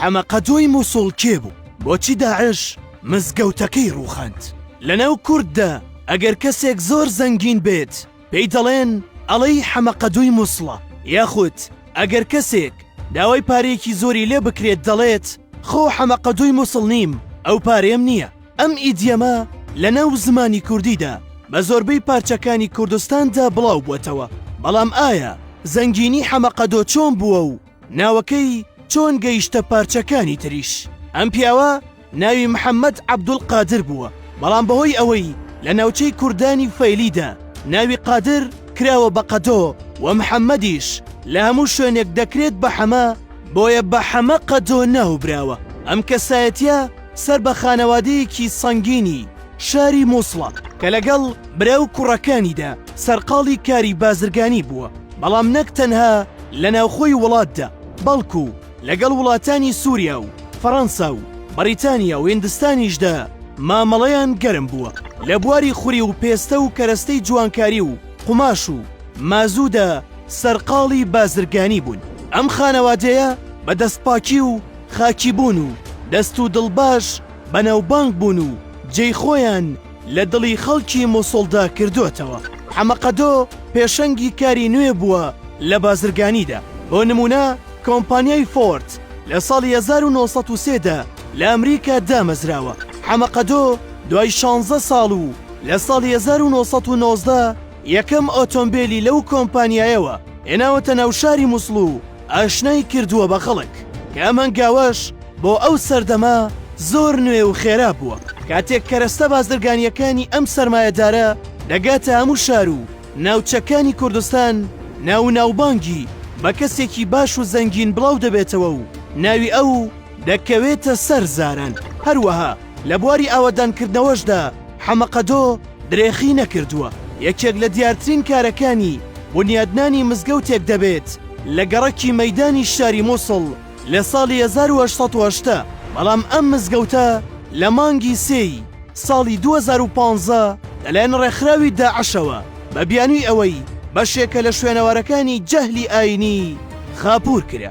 حەمەقەدۆی موسڵ کێ بوو؟ بۆچی داعش مزگەوتەکەی ڕووخاند؟ لەناو کورددا ئەگەر کەسێک زۆر زەنگین بێت پێی دەڵێن ئەڵێی حەمەقەدۆی موسڵە یاخود ئەگەر کەسێک داوای پارەیەکی زۆری لێ بکرێت دەڵێت خۆ حەمەقەدۆی موسڵ نیم ئەو پارەیەم نییە ئەم ئیدیەمە لەناو زمانی کوردیدا بە زۆربەی پارچەکانی کوردستاندا بڵاو بووەتەوە بەڵام ئایا زەنگینی حەمەقەدۆ چۆن بووە و ناوەکەی چۆن گەیشتە پارچەکانی تریش ئەم پیاوە ناوی محەممەد عەبدول قادر بووە بەڵام بەهۆی ئەوەی لە ناوچەی کوردانی فەیلیدا ناوی قادر کراوە بە قەدۆ و محەممەدیش لە هەموو شوێنێک دەکرێت بە حەمە بۆیە بە حەمە قەدۆ ناوبراوە ئەم کەسایەتە سەر بە خانەوادەیەکی سەنگینی شاری مووسڵە کە لەگەڵ برا و کوڕەکانیدا سەرقاڵی کاری بازرگانی بووە بەڵام نەک تەنها لە ناوخۆی وڵاتدا، بەڵکو لەگەڵ وڵاتانی سوریا و فەڕەنسا و بەڕیتانیا و هیندستانیشدا مامەڵەیان گەرم بووە. لە بواری خوری و پێستە و کەرەستەی جوانکاری و قوماش و مازوودا سەرقاڵی بازرگانی بوون. ئەم خانەوادەیە بە دەستپاکی و خاکیبوون و دەست و دڵ باش بەناوبانگ بوون و جێی خۆیان لە دڵی خەڵکی موسڵدا کردۆتەوە. حەمەقەدۆ پێشەنگی کاری نوێ بووە لە بازرگانیدا، بۆ نموونە کۆمپانیای فۆرد لە ساڵی هەزار و نۆ سەد و سێ دا لە ئەمریکا دامەزراوە. حەمەقەدۆ دوای شانزە ساڵ و لە ساڵی هەزار و نۆ سەد و نۆزدە یەکەم ئۆتۆمبێلی لەو کۆمپانیایەوە هێناوەتە ناو شاری موسڵ و، ئاشنای کردووە بە خەڵک، کە ئەم هەنگاوەش بۆ ئەو سەردەمە زۆر نوێ و خێرا بووە، کاتێک کەرەستە بازرگانییەکانی ئەم سەرمایەدارە دەگاتە هەموو شار و ناوچەکانی کوردستان، ناو و ناوبانگی بە کەسێکی باش و زەنگین بڵاو دەبێتەوە و ناوی ئەو دەکەوێتە سەر زاران، هەروەها لە بواری ئاوەدانکردنەوەشدا حەمەقەدۆ، درێخی نەکردووە، یەکێک لە دیارترین کارەکانی بونیادنانی مزگەوتێک دەبێت لە گەڕەکی مەیدانی شاری موسڵ لە ساڵی هەزار و هەشت سەد و هەشتا، بەڵام ئەم مزگەوتە لە مانگی سێ ی ساڵی دوو هەزار و پازدە لەلایەن ڕێکخراوی داعشەوە بە بیانوی ئەوەی بەشێکە لە شوێنەوارەکانی جەهلی ئاینی خاپوور کرا.